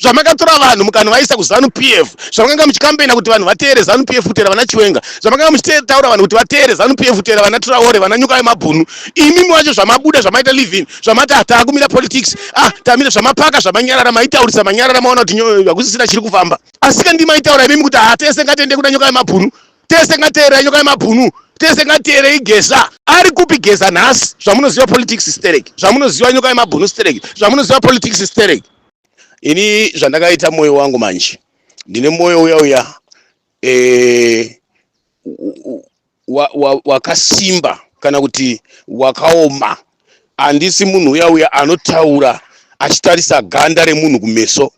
zvamakatora vanhu mukanovaisa kuzanu p f zvamakanga muchikambena kuti vanhu vateere zanu p f kuteera vana chiwenga zvamakanga muchitaura vanhu kuti vateere zanu p f kuteera vana turaore vana nyuka vemabhunu imimi wacho zvamabuda zvamaita livin zvamati hataakumira politics ah tamira zvamapaka zvamanyarara maitaurisa manyarara maona kuti hakusisina chiri kufamba asika ndi maitaura imimi kuti hatese ngatende kuna nyuka vemabhunu tese ngateerera nyuka vemabhunu tese ngateerei geza ari kupi geza nhasi zvamunoziva politics stereki zvamunoziva nyuka vemabhunu stereki zvamunoziva politics stereki ini zvandakaita moyo wangu manje ndine moyo uya uya eh, u- u- wa- wa- wakasimba kana kuti wakaoma handisi munhu uya uya anotaura achitarisa ganda remunhu kumeso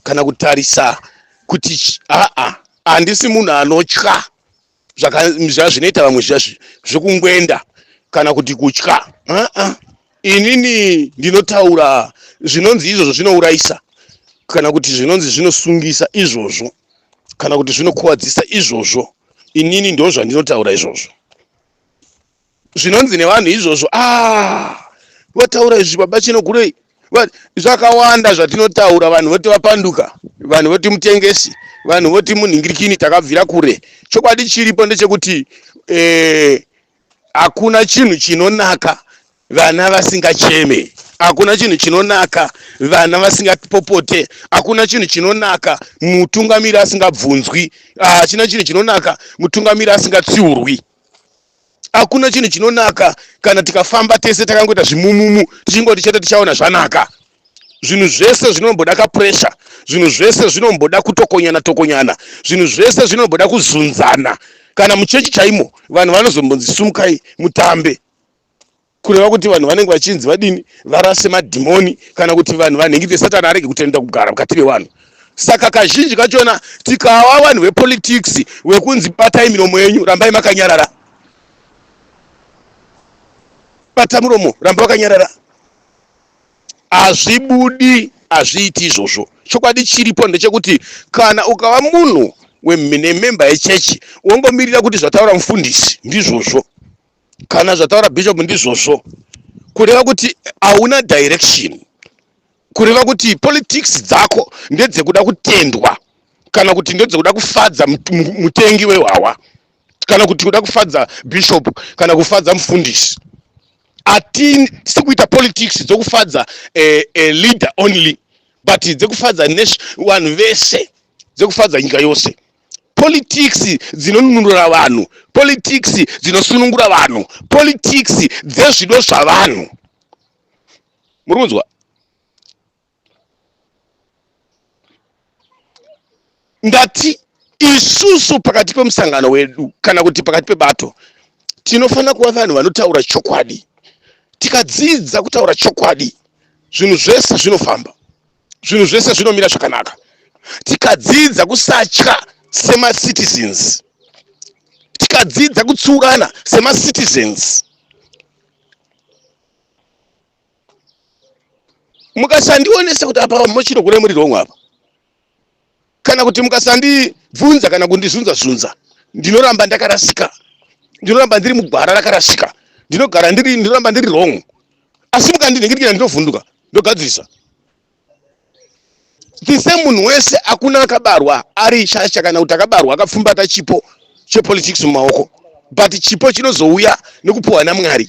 kana kutarisa kuti ch- aa handisi munhu anotya zvazvinoita vamwe zviya zvekungwenda kana kuti kutya aa inini ndinotaura zvinonzi izvozvo zvinourayisa kana kuti zvinonzi zvinosungisa izvozvo kana kuti zvinokuvadzisa izvozvo inini ndozvandinotaura izvozvo zvinonzi nevanhu izvozvo ah votaura izvi baba chino gurei Va- zvakawanda zvatinotaura vanhu voti vapanduka vanhu voti mutengesi vanhu voti munhingirikini takabvira kure chokwadi chiripo ndechekuti eh, hakuna chinhu chinonaka vana vasingacheme hakuna chinhu chinonaka vana vasingapopote hakuna chinhu chinonaka mutungamiri asingabvunzwi Ah, hachina chinhu chinonaka mutungamiri asingatsiurwi hakuna chinhu chinonaka kana tikafamba tese takangoita zvimumumu tichingoti chete tichaona zvanaka zvinhu zvese zvinomboda kapuresha zvinhu zvese zvinomboda kutokonyana tokonyana zvinhu zvese zvinomboda kuzunzana kana muchechi chaimo vanhu vanozombonzi sumukai mutambe kureva kuti vanhu vanenge vachinzi vadini varase madhimoni kana kuti vanhu vanhengete satani arege kutenda kugara mukati mevanhu saka kazhinji kachona tikawa vanhu vepolitics vekunzi batai miromo yenyu rambai makanyarara bata muromo ramba wakanyarara hazvibudi hazviiti izvozvo chokwadi chiripo ndechekuti kana ukava munhu wemhine memba yechechi wongomirira kuti zvataura mufundisi ndizvozvo kana zvataura bishop ndizvozvo kureva kuti hauna direction kureva kuti politics dzako ndedzekuda kutendwa kana kuti ndedzekuda kufadza mutengi wehwawa kana kuti kuda kufadza bishop kana kufadza mufundisi atisi kuita politics dzokufadza eh, eh, leader only but dzekufadza vanhu vese dzekufadza nyika yose politics dzinonunura vanhu politics dzinosunungura vanhu politics dzezvido zvavanhu muri kunzwa ndati isusu pakati pemusangano wedu kana kuti pakati pebato tinofanira kuva vanhu vanotaura chokwadi tikadzidza kutaura chokwadi zvinhu zvese zvinofamba zvinhu zvese zvinomira zvakanaka tikadzidza kusatya semacitizens tikadzidza kutsiurana semacitizens mukasandionesa kuti apa mochirogona muri rongwa apa kana kuti mukasandibvunza kana kundizvunza zvunza ndinoramba ndakarasika ndinoramba ndiri mugwara rakarasika ndinogara ndiri ndinoramba ndiri wrong asi mukandinhingirikira ndinovhunduka ndogadzirisa tise munhu wese akuna akabarwa ari shasha kana kuti akabarwa akapfumbata chipo chepolitics mumaoko but chipo chinozouya nekupuhwa namwari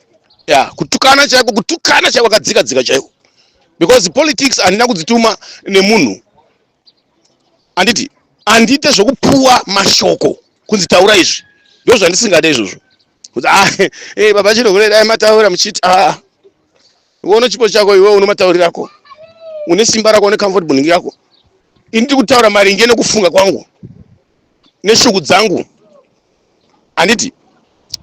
ya kutukana chaiko kutukana chaiko kadzika dzika chaiko because politics handina kudzituma nemunhu handiti handiite zvekupuwa mashoko kunzi taura izvi ndo zvandisingade izvozvo kuti ah, eh, baba chinohure dai mataura muchiti ah, iwe uno chipo chako iwe uno matauri rako une simba rako une comfort boning yako ini ndiri kutaura maringe nekufunga kwangu neshuku dzangu handiti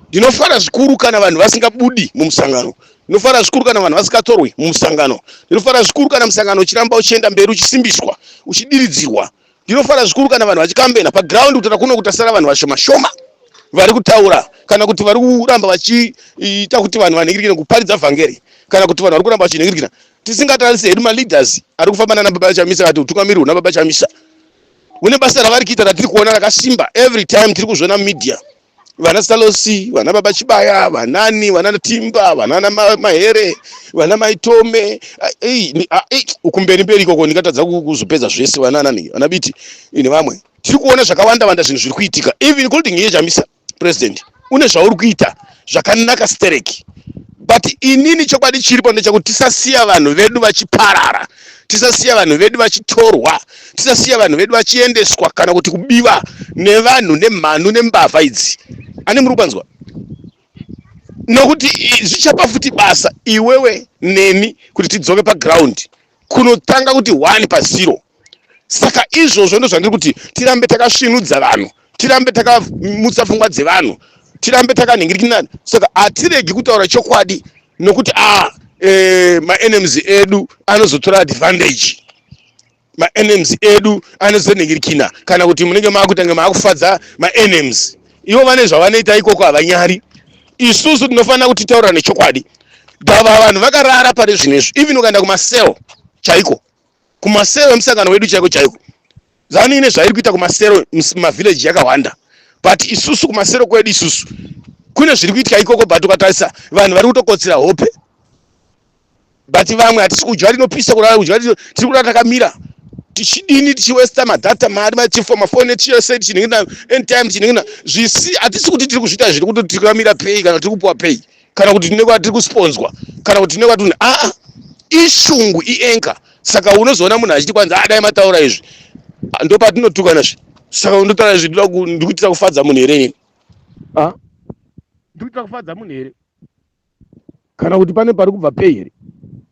ndinofara zvikuru kana vanhu vasingabudi mumusangano ndinofara zvikuru kana vanhu vasingatorwi mumusangano ndinofara zvikuru kana musangano uchiramba uchienda mberi uchisimbiswa uchidiridzirwa ndinofara zvikuru kana vanhu vachikambena paground kutaura kuno kutasara vanhu vashoma shoma vari kutaura kana kuti vari kuramba vachiita kuti vanhu vanhingirikira kuparidza vhangeri kana kuti vanhu vari kuramba vachinhingirikira tisingatarisi hedu maleaders ari kufamba nana baba chamisa vati utungamirihwo nababa chamisa une basa ravari kuita ratiri kuona rakasimba every time tiri kuzviona media vana salosi vana baba chibaya vanani vana timba vanana mahere vana maitome ukumberi mberi ikoko ndingatadza kuzopedza zvese vananani vana biti nevamwe tiri kuona zvakawanda wanda zvinhu zviri kuitika even including yechamisa president une zvauri kuita zvakanaka stereki but inini chokwadi chiripo ndechakuti tisasiya vanhu vedu vachiparara tisasiya vanhu vedu vachitorwa tisasiya vanhu vedu vachiendeswa kana kuti kubiwa nevanhu nemhanu nembavha idzi ani muri kupanzwa nokuti zvichapa futi basa iwewe neni kuti tidzoke paground kunotanga kuti one pazero saka izvozvo ndo zvandiri kuti tirambe takasvinudza vanhu tirambe takamutsa pfungwa dzevanhu tirambe takanhingirikinana saka hatiregi kutaura chokwadi nokuti a ah, e, eh, maenems edu anozotora advantage maenems edu anozonhingirikina kana kuti munenge maakutange maakufadza maenems ivo vane zvavanoita ikoko havanyari isusu tinofanira kuti taura nechokwadi gava vanhu vakarara pari zvino izvi even ukaenda kumasero chaiko kumasero emusangano wedu chaiko chaiko zanu ine zvairi kuita kumasero mavhileji yakawanda but isusu kumasero kwedu isusu kune zviri kuitika ikoko but ukatarisa vanhu vari kutokotsira hope but vamwe hatisi kudya rinopisa kurara kudya tiri kurara takamira tichidini tichiwesta madhata mari machifo mafone chese tichiningina anytime tichiningina zvisi hatisi kuti tiri kuzviita zviri kuti tiri kuramira pei kana tiri kupuwa pei kana kuti tine kwatiri kusponzwa kana kuti tine kwatini aa ishungu ienka saka unozoona munhu achiti kwanzi adai ah, mataura izvi ah, ndopatinotukana zvi saka undotaura izvi ndikuitira kufadza munhu here ini ah? ndikuitira kufadza munhu here kana kuti pane pari kubva pei here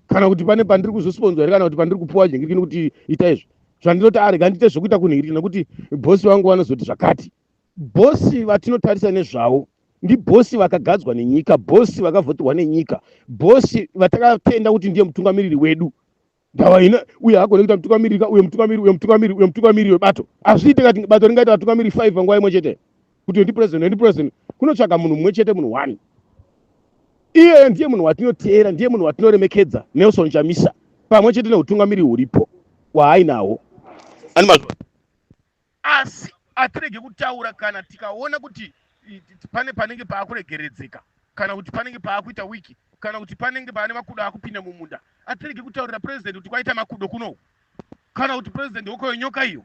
kana kuti pane pandiri kuzosponzwa here kana kuti pandiri kupuwa jengirikini kuti ita izvi zvandinoti arega ndiite zvekuita kunhirikini nekuti bhosi vangu vanozoti zvakati bhosi vatinotarisa nezvavo ndibhosi vakagadzwa nenyika bhosi vakavhotirwa nenyika bhosi vatakatenda kuti ndiye mutungamiriri wedu ndava ina uye hagone kuita mutungamiri ka uye mutungamiri uye mutungamiri uye mutungamiri webato hazviite kati bato ringaita vatungamiri five panguva imwe chete kuti ndi president ndi president kunotsvaga munhu mumwe chete munhu one iyeye ndiye munhu watinoteera ndiye munhu watinoremekedza nelson chamisa pamwe chete neutungamiri huripo waainahwo ani mazvo Asi hatirege kutaura kana tikaona kuti pane panenge paakuregeredzeka kana kuti panenge paakuita wiki kana kuti panenge pane makudo akupinda mumunda. Hatirege kutaurira president kuti kwaita makudo kuno kana kuti president hoko yenyoka iyo.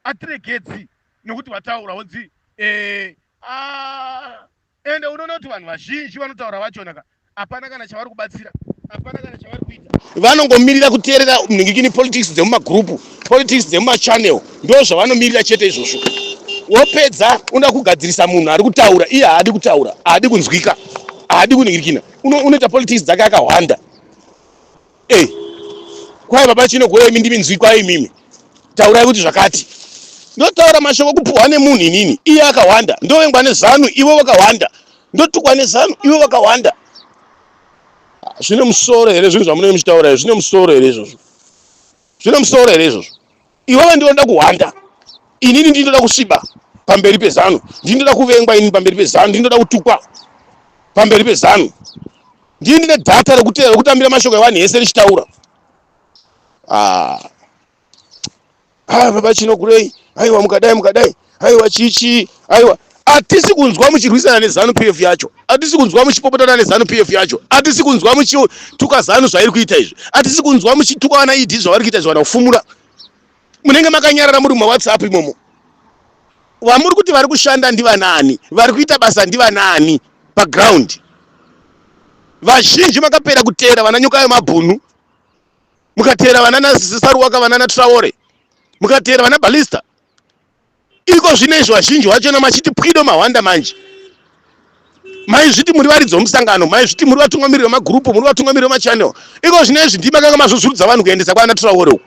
Hatiregedzi nekuti vataura wonzi eh, ah, Ende unoona kuti vanhu vazhinji vanotaura vachona ka hapana kana chavari kubatsira hapana kana chavari kuita vanongomirira kuteerera mhingikini politics dzemumagrupu politics dzemumachannel ndo zvavanomirira chete izvozvo wopedza unoda kugadzirisa munhu ari kutaura iye haadi kutaura haadi kunzwika haadi kuningirikina unoita politics dzake akahwanda Hey, eh, kwai baba chinogora imi ndimi nzwi kwai imimi taurai kuti zvakati ndotaura mashoko kupuhwa nemunhu inini iye akawanda ndovengwa nezanu ivo vakawanda ndotukwa nezanu ivo vakawanda ah, zvine musoro here zvinhu zvamunenge muchitaura zvine musoro here izvozvo zvine musoro here izvozvo iwewe ndinoda kuhwanda inini ndinoda kusviba pamberi pezanu ndinoda kuvengwa inini pamberi pezanu ndinoda kutukwa pamberi pezanu ndii ndine dhata rekutambira mashoko evanhu ese richitaura ah. ah, baba chinokurei aiwa mukadai mukadai aiwa chii chii aiwa atisi kunzwa muchirwisana nezanu p f yacho atisi kunzwa muchipopotana nezanu p f yacho atisi kunzwa muchituka zanu zvairi kuita izvi atisi kunzwa muchituka vana ed zvavari kuita izvi vana kufumura munenge makanyarara muri mumawhatsapp imomo vamuri kuti vari kushanda ndivanaani vari kuita basa ndivanaani paground vazhinji makapera kuteera vana nyoka yemabhunu mukateera vana nasaruwaka vana natraore mukateera vana balista iko zvino izvo vazhinji vachona machiti pwido mahwanda manje maizviti muri varidzi vomusangano maizviti muri vatungamiriri vemagurupu muri vatungamiriri vemachannel iko zvino izvi ndimi makanga mazvozurudza vanhu kuendesa kwaana traore uku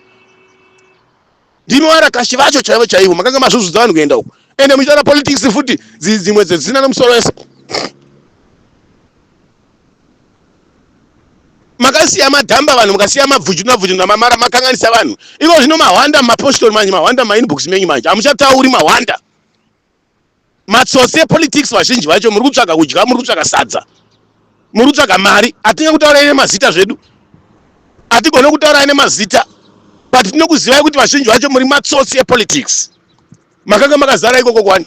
ndimi varakashi vacho chaivo chaivo makanga mazvozudza vanhu kuenda uku ende muchitaura politics futi dzimwe dzedzina nemusoro wese makasiya madhamba vanhu mukasiya mabvuju nabvuju namamara makanganisa vanhu iko zvino mahwanda mapostori manje mahwanda mainbox menyu manje hamuchatauri mahwanda matsotsi epolitics vazhinji vacho muri kutsvaga kudya muri kutsvaga sadza muri kutsvaga mari hatinge kutaura ine mazita zvedu hatigone kutaura ine mazita but tinokuzivai kuti vazhinji vacho muri matsotsi epolitics Makanga makazara ikoko kwani?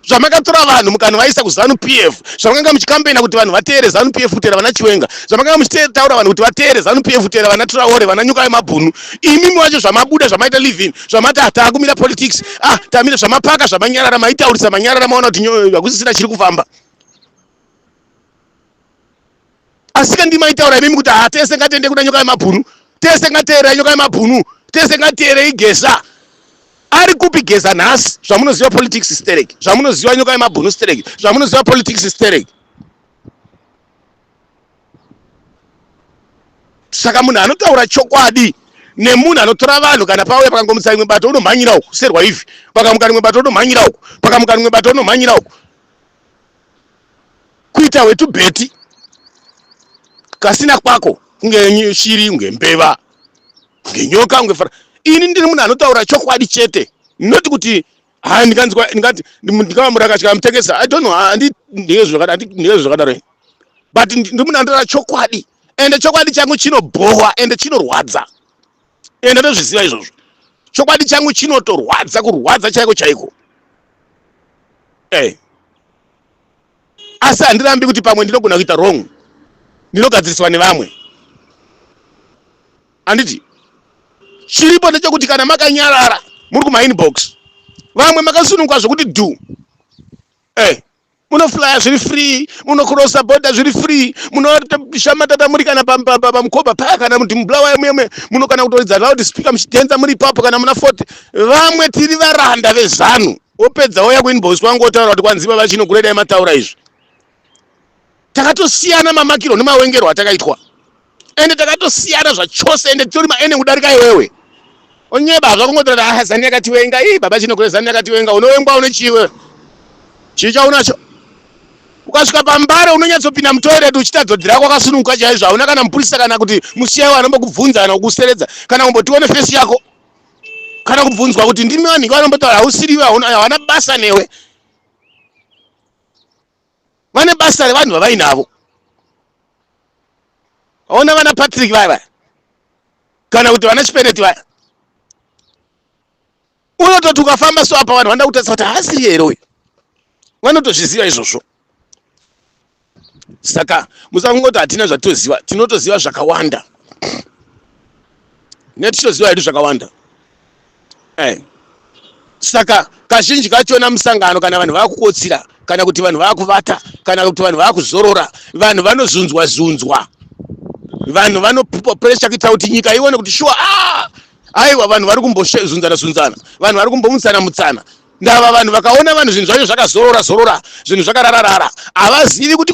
zvamakatora vanhu mukanvaisa kuzanu pf zvamakanga muchikambaina kuti vanhu vateere zanu pf kutera vana chiwenga zvamakanga muchitaura vanhu kuti vateere zanu pf kutera vana traore vana nyuka yemabhunu imimi wacho zvamabuda zvamaita living zvamati hataakumira politics ah tamira zvamapaka zvamanyarara maitaurisa manyarara maona kuti nyoyo hakusisina chiri kufamba asika ndima itaura imimi kuti haa tese ngatende kuna nyoka yemabhunu tese ngateerera nyoka yemabhunu tese ngateerei geza ari kupi geza nhasi zvamunoziva politics sterek zvamunoziva nyoka yemabhunu sterek zvamunoziva politics sterek saka munhu anotaura chokwadi nemunhu anotora vanhu kana pauya pakangomutsa rimwe bato unomhanyira uku serwa ivi pakamuka rimwe bato unomhanyira uku pakamuka rimwe bato unomhanyira uku kuita hwetubheti kasina kwako kunge shiri kunge mbeva kunge nyoka kunge fara ini ndiri munhu anotaura chokwadi chete not kuti ha ndinganzwa ndingati ndingava murakatya amutengesa i don't know handindiye zvakadaro but ndiri munhu anotaura chokwadi ende chokwadi changu chinobhowa ende chinorwadza ende ndozviziva izvozvo chokwadi changu chinotorwadza kurwadza chaiko chaiko eh. asi handirambi kuti pamwe ndinogona kuita wrong ndinogadziriswa nevamwe handiti chiripo ndechekuti kana makanyarara muri kumainbox vamwe makasununguka zvekuti du eh. munoflaya zviri free munokrosa boda zviri free munoshamatata muri kana pamukoba paya kana kuti mubulawayo muyemwe muno kana kutoridza loud speaker muchidhenza muri ipapo kana muna fort vamwe tiri varanda vezanu wopedza woya kuinbox kwangu wotaura kuti kwanziva vachino kuredai mataura izvi takatosiyana mamakiro nemawengerwo atakaitwa ende takatosiyana zvachose ende titori maeneng kudarika iwewe onyeba hazva kungotora ah, zani yakatiwenga ii baba chino kure zani yakatiwenga unowengwa une chiwe chii chaunacho ukasvika pambare unonyatsopinda mutoireti uchiita dzodzi rako akasununguka chaizvo hauna kana mupurisa kana kuti musiyai wanombokubvunza kana kukuseredza kana kumbotione fesi yako kana kubvunzwa kuti ndimi vanhiki vanombotaura hausiriwe hawana basa newe vane basa revanhu vavainavo aona vana patrick vaya vaya kana kuti vana chipeneti vaya unototi ukafamba so apa vanhu vanoda kutarisa kuti haasiri here uyu vanotozviziva izvozvo saka musakungoti hatina zvatitoziva tinotoziva zvakawanda netichitoziva hedu zvakawanda eh. saka kazhinji kachona musangano kana vanhu vakukotsira kana kuti vanhu vakuvata kana kuti vanhu vakuzorora vanhu vanozunzwa zunzwa vanhu vanopressure kuitira kuti nyika ione kuti shuwa ah! aiwa vanhu vari kumbozunzana zunzana vanhu vari kumbomutsana mutsana ndava vanhu vakaona vanhu zvinhu zvacho zvakazorora zorora zvinhu zvakarararara havazivi kuti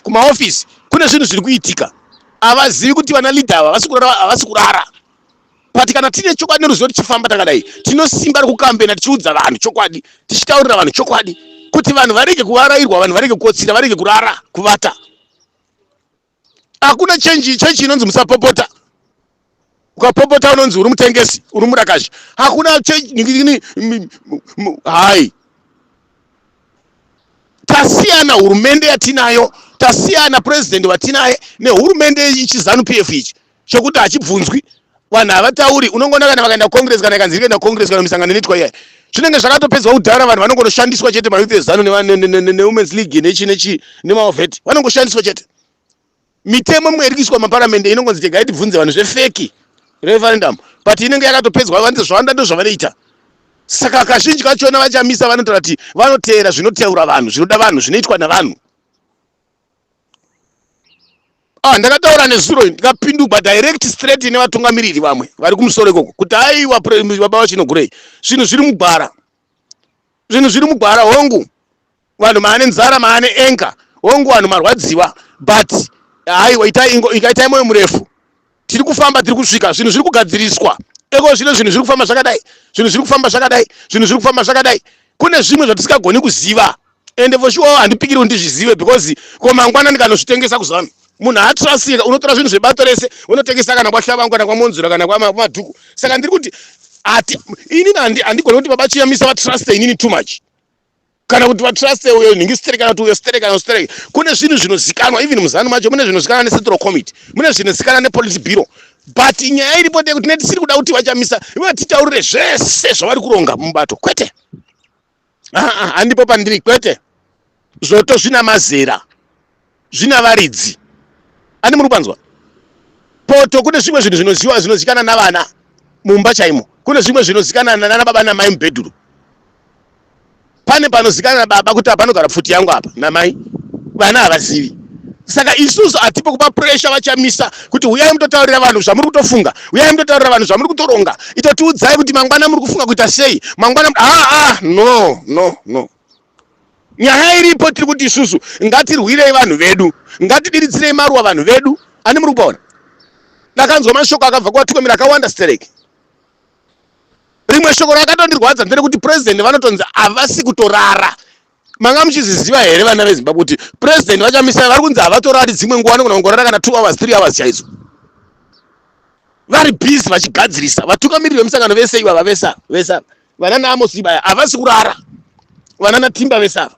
kumaofisi kune zvinhu zviri kuitika havazivi kuti vana leader ava havasi kurara havasi kurara but kana tine chokwadi neruzivo tichifamba takadai tinosimba rekukambena tichiudza vanhu chokwadi tichitaurira vanhu chokwadi kuti vanhu varege kuvarairwa vanhu varege kukotsira varege kurara kuvata hakuna chenji chechi inonzi musapopota ukapopota unonzi uri mutengesi uri murakashi hakuna hai tasiyana hurumende yatinayo tasiyana purezidhendi vatinaye nehurumende yechizanu p f ichi chekuti hachibvunzwi vanhu havatauri unongoona kana vakaenda kucongress kana ikanzi ikaenda kucongress kana misangano inoitwa iyayi zvinenge zvakatopedzwa kudhara vanhu vanongonoshandiswa chete mayouth ezanu newomens league nechi nechi nemaovheti vanongoshandiswa chete mitemo imwe iri kuiswa maparamende inongonzi tegai tibvunze vanhu zvefeki referendum but inenge yakatopedzwa vanzi zvawanda ndo zvavanoita saka kazhinji kachona vachamisa vanotaura kuti vanoteera zvinotaura vanhu zvinoda vanhu zvinoitwa navanhu ah, ndakataura nezuro ndikapindugwa direct straight nevatungamiriri vamwe vari kumusoro ikoko kuti aiwa baba vachinogurei zvinhu zviri mugwara zvinhu zviri mugwara hongu vanhu maane nzara maane enga hongu vanhu marwadziwa but haiwa ikaitai moyo murefu tiri kufamba tiri kusvika zvinhu zviri kugadziriswa eko zvino zvinhu zviri kufamba zvakadai zvinhu zviri kufamba zvakadai zvinhu zviri kufamba zvakadai kune zvimwe zvatisingagoni kuziva ende voshuwawo handipikiriwo ndizvizive because ko mangwana ndikanozvitengesa kuzanu munhu haatrasika unotora zvinhu zvebato rese unotengesa kana kwahlavangu kana kwamonzura kana kwamadhuku saka ndiri kuti ati inini handigoni kuti baba chiyamisa vatruste inini too much kana kuti vatruste uyo nhingi stere kana kuti uyo stere kana stere kune zvinhu zvinozikanwa even muzanu macho mune zvinozikanwa necentral committee mune zvinozikanwa nepolice bureau but nyaya iripo ndeyekuti netisiri kuda kuti vachamisa ivo titaurire zvese zvavari kuronga mubato kwete haa handipo pandiri kwete zvoto zvina mazera zvina varidzi ani muri kwanzwa poto kune zvimwe zvinhu zvinoziwa zvinozikana navana mumba chaimo kune zvimwe zvinozikana nana baba namai mubhedhuru pane panozikana na baba kuti apanogara pfuti yangu apa namai vana havazivi saka isusu hatipo kupa pressure vachamisa kuti huyai mutotaurira vanhu zvamuri kutofunga huyai mutotaurira vanhu zvamuri kutoronga itotiudzai kuti mangwana muri kufunga kuita sei mangwana aa ah, ah, no no no nyaya iripo tiri kuti isusu ngatirwirei vanhu vedu ngatidiridzirei maruwa vanhu vedu ani muri kupaona ndakanzwa mashoko akabva kuvatungamiri akawanda stereki rimwe shoko rakatondirwadza nderekuti president vanotonzi havasi kutorara manga muchizviziva here vana vezimbabwe kuti president vachamisa vari kunzi havatorari dzimwe nguva vanogona kungorara kana two hours three hours chaidzo vari busy vachigadzirisa vatungamiriri vemusangano vese ivava vese ava vese ava vana naamosibaya havasi kurara vana natimba vese ava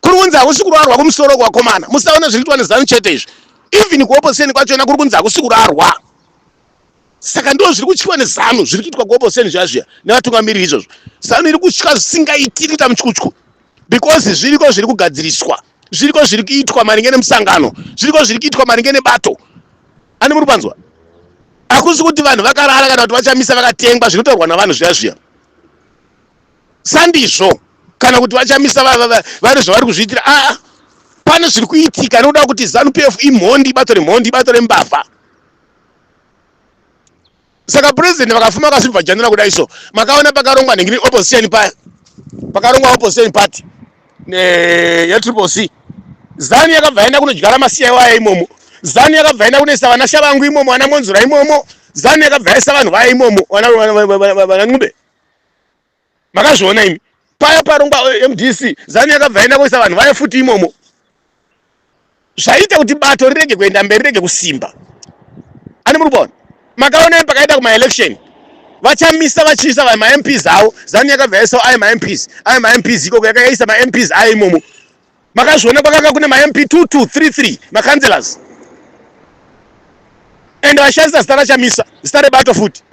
kuri kunzi hakusi kurarwa kumusoro kwakomana musaona zviri kuitwa nezanu chete izvi even kuoposeni kwachona kuri kunzi hakusi kurarwa saka ndo zviri kutyiwa nezanu zviri kuitwa kuoposeni zviya zviya nevatungamiriri izvozvo zanu iri kutya zvisingaiti iri kuita mutyutyu because zviriko zviri kugadziriswa zviriko zviri kuitwa maringe nemusangano zviriko zviri kuitwa maringe nebato ani muri panzwa hakusi kuti vanhu vakarara kana kuti vachamisa vakatengwa zvinotaurwa navanhu zviya zviya sandizvo kana kuti vachamisa vane zvavari kuzviitira aa pane zviri kuitika nokuda kuti zanu p f imhondi ibato remhondi ibato rembavha saka president vakafuma vakasvibva janira kudai so makaona pakarongwa nengini opposition paya pakarongwa opposition party yetriple c zanu yakabva yaenda kunodyara masiya iwaya imomo zanu yakabva yaenda kunoisa vana shavangu imomo vana monzura imomo zanu yakabva yaisa vanhu vaya imomo vana nqube makazviona imi paya parongwa mdc zanu yakabva yaenda koisa vanhu vaye futi imomo zvaita kuti bato rirege kuenda mberi rege kusimba ani muri kuona makaona pakaenda kumaelection vachamisa vachiisa va mamps avo zanu yakabva yaisa ayo mamps ayo mamps ikoko yakayaisa mamps ayo imomo makazviona kwakanga kune mamp 2233 macancelors and vashandisa zita rachamisa zita rebato futi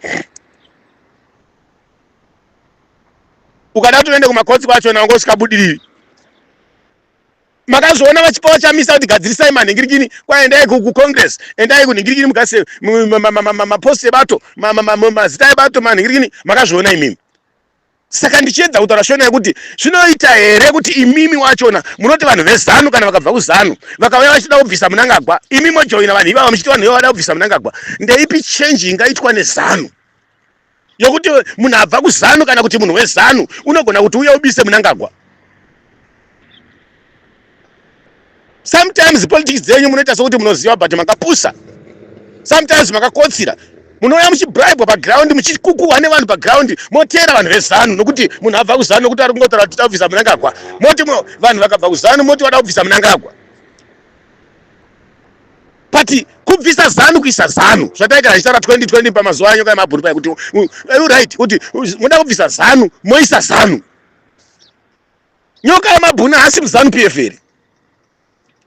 ukada kuti uende kumakotsi kwacho na wangosvika budiriri makazoona vachipa vachamisa kuti gadzirisai manhingirikini kwai endai kucongress endai kunhingirikini mugase mapost ebato mazita ebato manhingirikini makazviona imimi saka ndichiedza kutaura shona yekuti zvinoita here kuti imimi wachona munoti vanhu vezanu kana vakabva kuzanu vakauya vachida kubvisa munangagwa imimi mojoina vanhu ivava muchiti vanhu ivava vada kubvisa munangagwa ndeipi change ingaitwa nezanu yokuti munhu abva kuzanu kana kuti munhu wezanu unogona kuti uye ubise munangagwa sometimes politics dzenyu munoita sokuti munoziva but makapusa sometimes makakotsira munouya muchibribwa paground muchikukuhwa nevanhu paground moteera vanhu vezanu nokuti munhu abva kuzanu nokuti ari kungotaura kuti tabvisa munangagwa moti vanhu vakabva kuzanu moti vada kubvisa munangagwa but kubvisa zanu kuisa zanu zvataita zvichitaura 2020 pamazuva anyoka yemabhuru paya kuti right kuti moda kubvisa zanu moisa zanu nyoka yemabhuna hasi muzanu p f here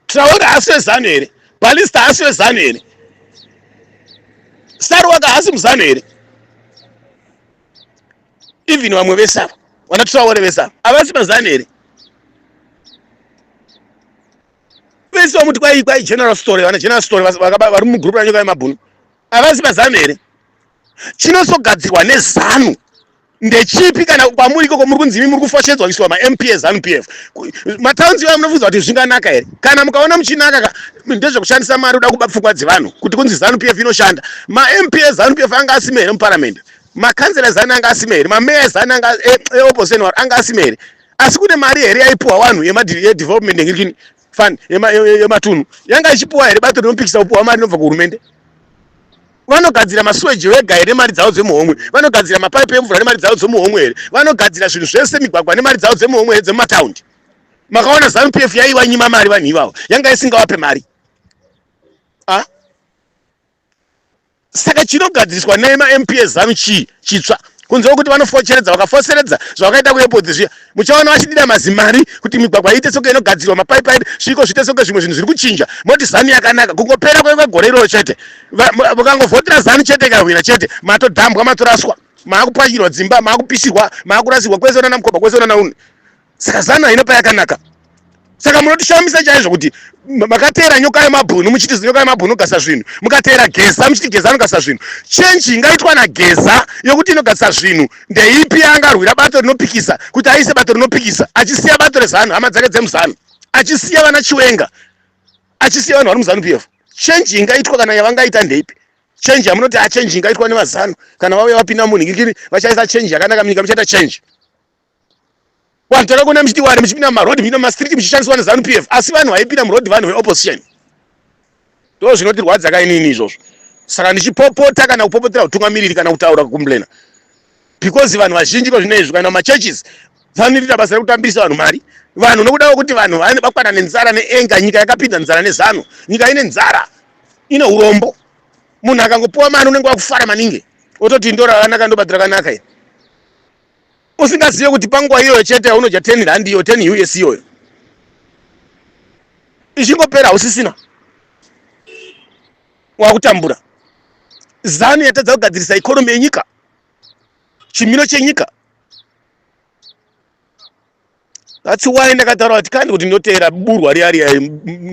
traore hasi wezanu here balista hasi wezanu here saruwaka hasi muzanu here even vamwe vese ava vana traore vese ava havasi mazanu here vese vamuti kwai kwai general story vana general story vari mugroup ranyoka yemabhunu avazi mazanu here chinozogadzirwa nezanu ndechipi kana kwamuri ikoko muri kunzi imi muri kufoshedzwa kuiswa mamp ezanu p f mataunzi ivayo munofunza kuti zvinganaka here kana mukaona muchinaka ka ndezvekushandisa mari uda kuba pfungwa dzevanhu kuti kunzi zanu p f inoshanda mamp ezanu p f anga asime here muparamende makanzela ezanu anga asime here mameya ezanu eopposition eh, eh, waro anga asime here asi kune mari here yaipuwa vanhu yedevelopment yengirikini fund yematunhu yanga ichipuwa here bato rinopikisa kupuwa mari inobva kuhurumende vanogadzira masuweji wega here mari dzavo dzemuhomwe vanogadzira mapaipi emvura nemari dzavo dzemuhomwe here vanogadzira zvinhu zvese migwagwa nemari dzavo dzemuhomwe here dzemumataundi makaona zanu p f yaiva nyima mari vanhu ivavo yanga isingawape mari saka chinogadziriswa nei mamp ezanu chii chitsva kunze kwekuti vanofocheredza vakafoseredza zvavakaita kuepodhi zviya muchaona vachidira mazimari kuti migwagwa iite soke inogadzirwa mapaipi aite sviko zviite soke zvimwe zvinhu zviri kuchinja moti zanu yakanaka kungopera kwegore iroro chete mukangovhotera zanu chete ikahwina chete matodhambwa matoraswa maakupwanyirwa dzimba maakupisirwa maakurasirwa kwese unana mukobha kwese unana unhu saka zanu haina payakanaka saka munotishamisa chaizvo kuti makateera nyoka yemabhunu muchiti zinyoka yemabhunu gasa zvinhu mukateera geza muchiti geza anogasa zvinhu chenji ingaitwa nageza yokuti inogasa zvinhu ndeipi yaangarwira bato rinopikisa kuti aise bato rinopikisa achisiya bato rezanu hama dzake dzemuzanu achisiya vana chiwenga achisiya vanhu vari muzanu pf chenji ingaitwa kana yavangaita ndeipi chenji yamunoti achenji ah, ingaitwa nevazanu kana vauya vapinda munhu ngirikiri vachaisa chenji yakanaka munyika muchaita chenji Vanhu takakona muchiti wani muchipinda mumaroad muchipinda mumastreet muchishandiswa nezanu PF asi vanhu vaipinda muroad vanhu veopposition. Ndoo zvinotirwadza ka inini izvozvo. Saka ndichipopota kana kupopotera hutungamiriri kana kutaura kucomplaina because vanhu vazhinji kozvino izvi kana machurches vanoita basa rekutambirisa vanhu mari vanhu nokudawo kuti vanhu vane bakwana nenzara neenga nyika yakapinda nzara nezanu nyika ine nzara ine urombo munhu akangopiwa mari unenge wakufara maningi ototi ndorava naka ndobadhira kanaka usingazive kuti panguva iyoyo chete yaunodya 10 rand iyo 10 us iyoyo ichingopera hausisina wakutambura zanu yatadza kugadzirisa ikonomi yenyika chimiro chenyika That's why ndakataura kuti kandi kuti ndoteera burwa riya riya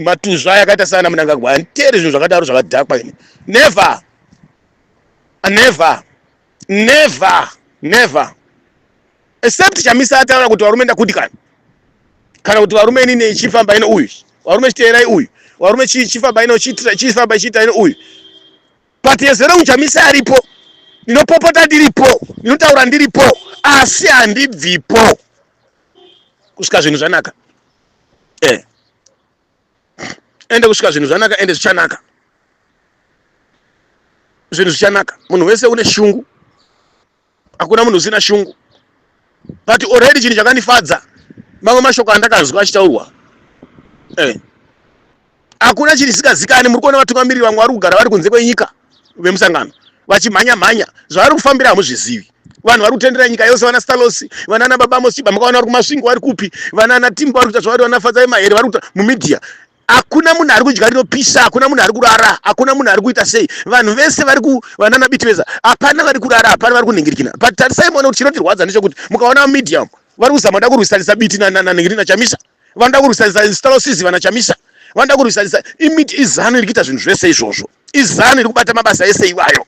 matuzva yakaita sana munangagwa anditeeri zvinhu zvakadaro zvakadhakwa ini never ah, never never never except chamisa ataura kuti varume ndakudikana kana kuti varume ini nechifamba ino uyu varume chiteerai uyu varume chifamba ino chifamba chiita ino uyu but as long chamisi aripo ndinopopota ndiripo ndinotaura ndiripo asi handibvipo kusvika zvinhu zvanaka eh. ende kusvika zvinhu zvanaka ende zvichanaka zvinhu zvichanaka munhu wese une shungu hakuna munhu usina shungu but already chinhu chakandifadza mamwe mashoko andakanzwa achitaurwa eh. hakuna chinhu chisikazikani muri kuona vatungamiriri vamwe vari kugara vari kunze kwenyika vemusangano vachimhanya mhanya zvavari kufambira hamuzvizivi vanhu vari kutendera nyika yose vana stalosi vanana baba mosiba makaona vari kumasvingo vari kupi vanana timbo vari kuita zvavari vanafadza vemahere vari kuita mumedia hakuna munhu ari kudya rinopisa hakuna munhu ari kurara hakuna munhu ari kuita sei vanhu vese vari kuvanana bitiveza hapana vari kurara hapana vari kunhingirikina but tarisai muone kuti chinotirwadza ndechekuti mukaona mumedia umu vari kuzama da kurwisanisa biti nanhingirina chamisa vanoda kurwisanisa instalosizi vana chamisa vanoda kurwisanisa imiti izano iri kuita zvinhu zvese izvozvo izano iri kubata mabasa ese iwayo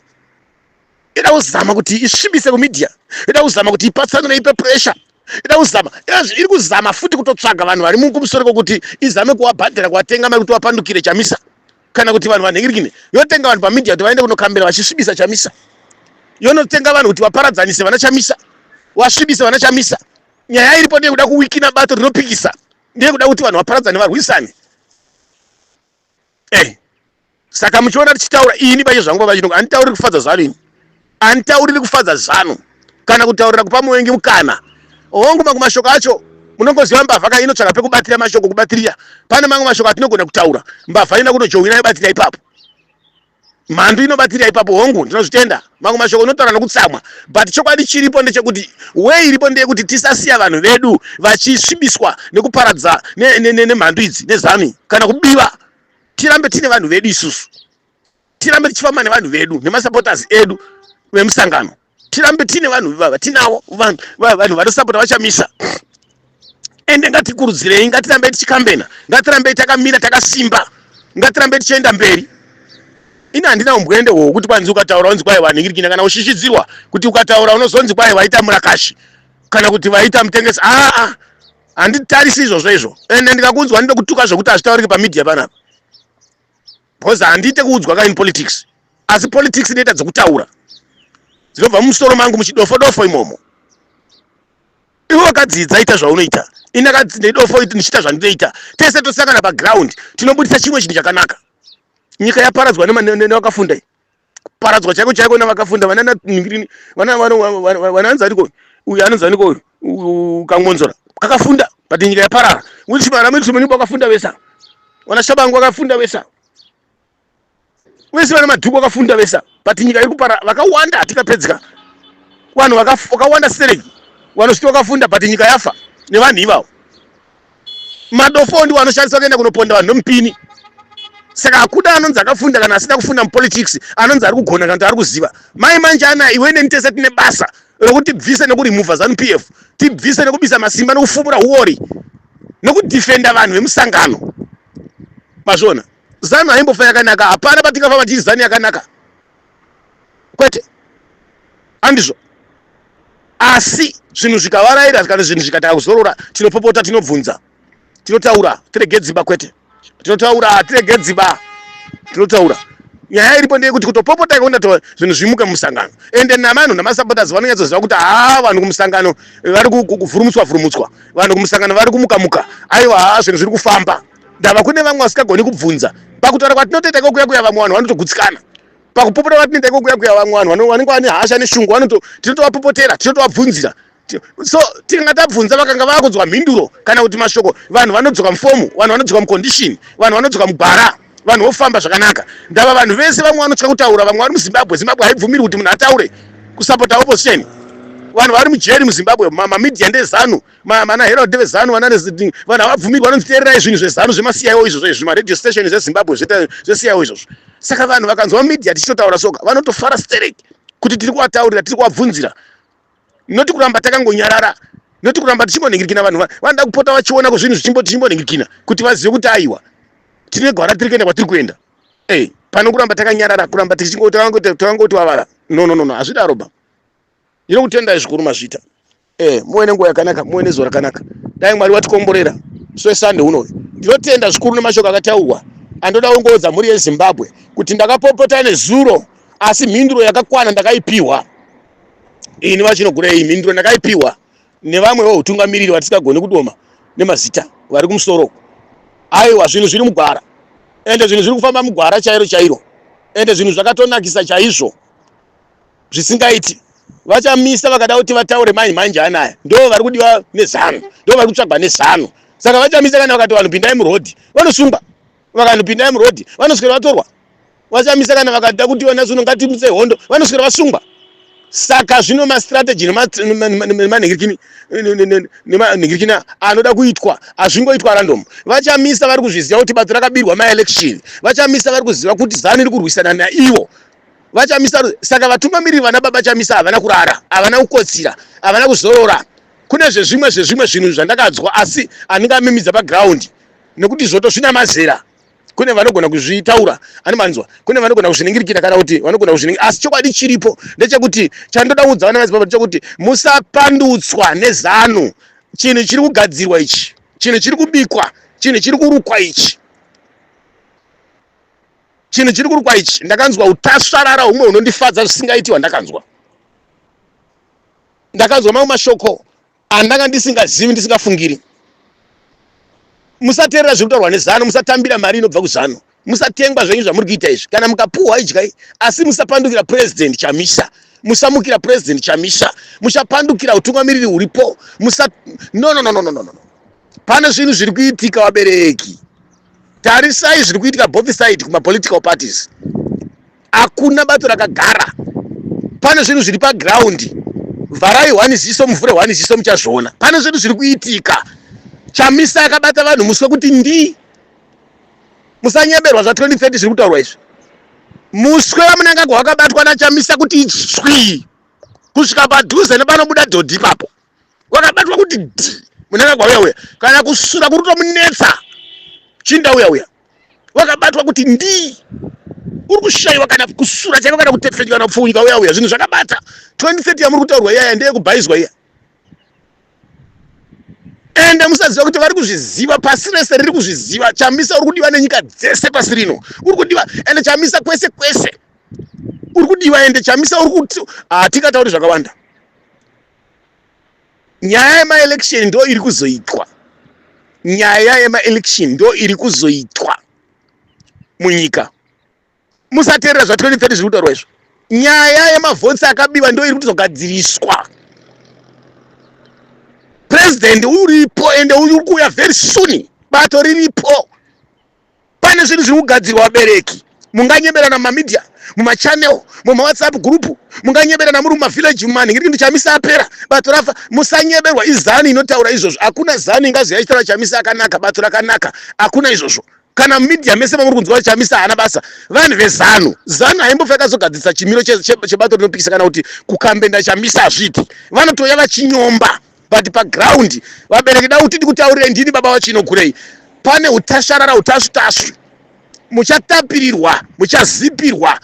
ida kuzama kuti isvibise kumedia ida kuzama kuti ipatsanure ipe pressure ida kuzama ezvi iri kuzama futi kutotsvaga vanhu vari mukumusoro kokuti izame kuwabhadhara kuwatenga mari kuti wapandukire chamisa kana kuti vanhu vanhingirikine yotenga vanhu pamedia kuti vaende kunokambira vachisvibisa chamisa yonotenga vanhu kuti vaparadzanise vana chamisa wasvibise vana chamisa nyaya iripo ndeyekuda kuwikina bato rinopikisa ndeyekuda kuti vanhu vaparadzane varwisane eh saka muchiona tichitaura ini paye zvangu pavachinoku anditauriri kufadza zanu ini anditauriri kufadza zanu kana kutaurira kupa muvengi mukana hongu mamwe mashoko acho munongoziva mbavha ka inotsvaka pekubatira mashoko kubatirira pane mamwe mashoko atinogona kutaura mbavha ina kunojohwina yobatira ipapo Mhandu inobatirira ipapo hongu ndinozvitenda mamwe mashoko unotaura nokutsamwa but chokwadi chiripo ndechekuti way iripo ndeyekuti tisasiya vanhu vedu vachisvibiswa nekuparadza nemhandu idzi nezanu kana kubiwa tirambe tine vanhu vedu isusu tirambe tichifamba nevanhu vedu nemasupporters edu vemusangano tirambe tine vanhu ivava tinavo vanhu vanosapota vachamisa ende ngatikurudzirei ngatirambei tichikambena ngatirambei takamira takasimba ngatirambei tichienda mberi ini handina umbwende hwo kuti kwanzi ukataura unzi kwai vanhingirikina kana ushishidzirwa kuti ukataura unozonzi kwai vaita murakashi kana kuti vaita mutengesi aa ah, ah, handitarisi izvozvo izvo ende ndikakunzwa ndinokutuka zvekuti hazvitauriki pamedia panapa because handiite kuudzwa ka in politics asi politics inoita dzokutaura dzinobva mumusoro mangu muchidofo dofo imomo iwe wakadzidza ita zvaunoita ini akadzidza idofo ndichiita zvandinoita tese tosangana paground tinobudisa chimwe chinhu chakanaka nyika yaparadzwa nevakafunda kuparadzwa chaiko chaiko navakafunda vanana ningirini vana vano vananzi ariko uyu anonzi aniko uyu ukangonzora kakafunda but nyika yaparara which mara miti munyumba wakafunda vesa wana shabangu wakafunda vesa wese vana madhuku wakafunda vesa but nyika iri kupara vakawanda hatikapedzika vanhu vakawanda stereki vanosviti wakafunda but nyika yafa nevanhu ivavo madofo ndiwo anoshandiswa kuenda kunoponda vanhu nomupini saka hakuda anonzi akafunda kana asina kufunda mupolitics anonzi ari kugona kana kuti ari kuziva mai manjana iwe neni tese tine basa rokuti tibvise nekurimuvha zanu p f tibvise nekubisa masimba nekufumura uori nekudefenda vanhu vemusangano mazviona zanu haimbofa yakanaka hapana patingafa vachii zanu yakanaka kwete andizvo asi zvinhu zvikavaraira kana zvinhu zvikatanga kuzorora tinopopota tinobvunza tinotaura tirege dziba kwete tinotaura tirege dziba tinotaura nyaya iripo ndeyekuti kutopopota ikaona to zvinhu zvimuka mumusangano ende navanhu namasupporters vanonyatsoziva kuti haa vanhu kumusangano vari kuvhurumutswa vhurumutswa vanhu kumusangano vari kumuka muka aiwa haa zvinhu zviri kufamba ndava kune vamwe vasingagoni kubvunza pakutaura kwatinotoita kokuya kuya vamwe vanhu vanotogutsikana pakupopota kwatinoita kokuya kuya vamwe vanhu vanenge vane hasha neshungu vanoto tinotovapopotera tinotovabvunzira so tinga tabvunza vakanga vakudzwa mhinduro kana kuti mashoko vanhu vanodzoka mufomu vanhu vanodzoka mucondition vanhu vanodzoka mugwara vanhu vofamba zvakanaka ndava vanhu vese vamwe vanotya kutaura vamwe vari muzimbabwe zimbabwe haibvumiri kuti munhu ataure kusapota opposition vanhu vari mujeri muzimbabwe mamamedia ndezanu Mana Herald deve Zanu vana reZiding vanhu havabvumiri vanonzi teererai zvinhu zveZanu zvemasiyawo izvozvo izvi maradio station zveZimbabwe zveta zvesiyawo izvozvo saka vanhu vakanzwa media tichitotaura soka vanotofara sterek kuti tiri kuvataurira tiri kuvabvunzira noti kuramba takangonyarara noti kuramba tichingonhingirikina vanhu vanoda kupota vachiona kuzvinhu zvichimbonhingirikina kuti vazive kuti aiwa tine gwara tiri kuenda kwatiri kuenda e pano kuramba takanyarara kuramba tichingoti vavara no no no no hazvidaroba ndinokutendai zvikuru mazvita eh muwe nenguva yakanaka muwe nezuva rakanaka dai mwari watikomborera so sunday unoyo ndinotenda zvikuru nemashoko akataurwa andoda kungoudza mhuri yezimbabwe kuti ndakapopota nezuro asi mhinduro yakakwana ndakaipiwa ini vachinogura iyi mhinduro ndakaipiwa nevamwe veutungamiriri vatisingagoni kudoma nemazita vari kumusoro uku aiwa zvinhu zviri mugwara ende zvinhu zviri kufamba mugwara chairo chairo ende zvinhu zvakatonakisa chaizvo zvisingaiti vachamisa vakada kuti vataure manyi manje anaya ndo vari kudiwa nezanu ndo vari kutsvagwa nezanu saka vachamisa kana vakati vanhu pindai murodhi vanosungwa vakanhu pindai murodhi vanoswera vatorwa vachamisa kana vakada kuti vana zuno ngatimise hondo vanoswera vasungwa saka zvino mastrategy nemanhingirikini nemanhingirikini anoda kuitwa hazvingoitwa random vachamisa vari kuzviziva kuti bato rakabirwa maelection vachamisa vari kuziva kuti zanu iri kurwisana naivo vachamisa saka vatungamiriri vana baba chamisa havana kurara havana kukotsira havana kuzorora kune zvezvimwe zvezvimwe zvinhu zvandakadzwa asi handingamimidza pagraundi nekuti zvoto zvina mazera kune vanogona kuzvitaura ani manzwa kune vanogona kuzviningirikira kana kuti vanogona kuzviningira asi chokwadi chiripo ndechekuti chandoda kuudza vana madzibaba ndechekuti musapandutswa nezano chinhu chiri kugadzirwa ichi chinhu chiri kubikwa chinhu chiri kurukwa ichi chinhu chiri kurukwa ichi ndakanzwa utasvarara humwe hunondifadza zvisingaiti hwandakanzwa ndakanzwa mamwe mashoko andanga ndisingazivi ndisingafungiri musateerera zviri kutaurwa nezano musatambira mari inobva kuzano musatengwa zvenyu zvamuri kuita izvi kana mukapuhwa idyai asi musapandukira purezidendi chamisa musamukira purezidendi chamisa muchapandukira utungamiriri huripo musa no no no no no no no pane zvinhu zviri kuitika vabereki tarisai zviri kuitika both side kumapolitical parties hakuna bato rakagara pane zvinhu zviri pagraundi vharai hwani ziso muvhure hwani ziso muchazviona pane zvinhu zviri kuitika chamisa akabata vanhu muswe kuti ndi musanyeberwa zva 2030 zviri kutaurwa izvi muswe vamunangagwa wakabatwa nachamisa kuti swii kusvika padhuze nepanobuda dhodhi ipapo wakabatwa kuti dhi munanga kwauya uya kana kusura kuri kutomunetsa chinda uya uya wakabatwa kuti ndii uri kushaiwa kana kusura chaiko kana kutefenywa kana kupfuunyika uya uya zvinhu zvakabata 2030 yamuri kutaurwa iyaya ndeye kubhaizwa iya ende musaziva kuti vari kuzviziva pasi rese riri kuzviziva chamisa uri kudiwa nenyika dzese pasi rino uri kudiwa ende chamisa kwese kwese uri kudiwa ende chamisa uri kuti hatikatauri zvakawanda nyaya yemaelection ndo iri kuzoitwa nyaya yemaelection ndo iri kuzoitwa munyika musateerera zva 2030 zviri kutaurwa izvo nyaya yemavhotsi akabiwa ndo iri kutogadziriswa president uripo ende uri kuuya very soon bato riripo pane zvinhu zviri kugadzirwa vabereki munganyeberana mumamedia mumachannel mumawhatsapp group munganyeberana muri mumavillage mumanhingiriki ndichamisa apera bato rafa musanyeberwa izanu inotaura izvozvo hakuna zanu ingazi yaichitaura chamisa akanaka bato rakanaka hakuna izvozvo kana mumedia mese mamuri kunzwa kuti chamisa haana basa vanhu vezanu zanu haimbofa yakazogadzirisa chimiro chebato rinopikisa kana kuti kukambenda chamisa hazviiti vanotouya vachinyomba but paground vabereki da kuti ndikutaurire ndini baba vachinogurei pane utasharara utasvi tasvi muchatapirirwa muchazipirwa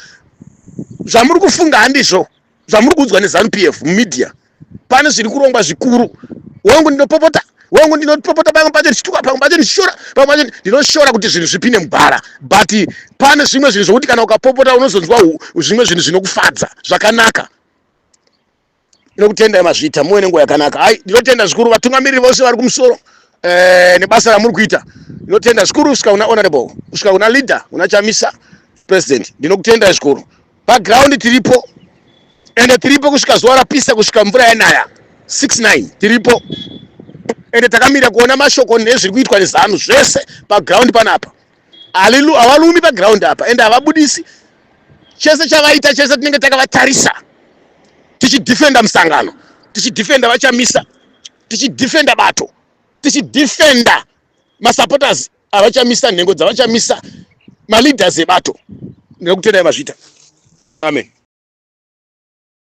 zvamuri kufunga handizvo zvamuri kuudzwa nezanu p f mumedia pane zviri kurongwa zvikuru wangu ndinopopota wangu ndinopopota pamwe pacho ndichituka pamwe pacho ndichishora pamwe pacho ndinoshora kuti zvinhu zvipinde mubhara but pane zvimwe zvinhu zvokuti kana ukapopota unozonzwa zvimwe zvinhu zvinokufadza zvakanaka Ndinokutendai mazvita muwe nenguva yakanaka. Hai, ndinotenda zvikuru vatungamiriri vose vari kumusoro eh, nebasa ramuri kuita. Ndinotenda zvikuru kusvika kuna honorable, kusvika kuna leader, kuna Chamisa president. Ndinokutendai zvikuru. Background tiripo ende tiripo kusvika zuva rapisa kusvika mvura yanaya 69 tiripo ende takamira kuona mashoko nezviri kuitwa nezanu zvese paground panapa Halilu, havalumi paground apa ende havabudisi chese chavaita chese tinenge takavatarisa tichidefenda musangano tichidefenda vachamisa tichidefenda bato tichidefenda masupporters avachamisa nhengo dzavachamisa maleaders ebato ndinokutendai mazvita amen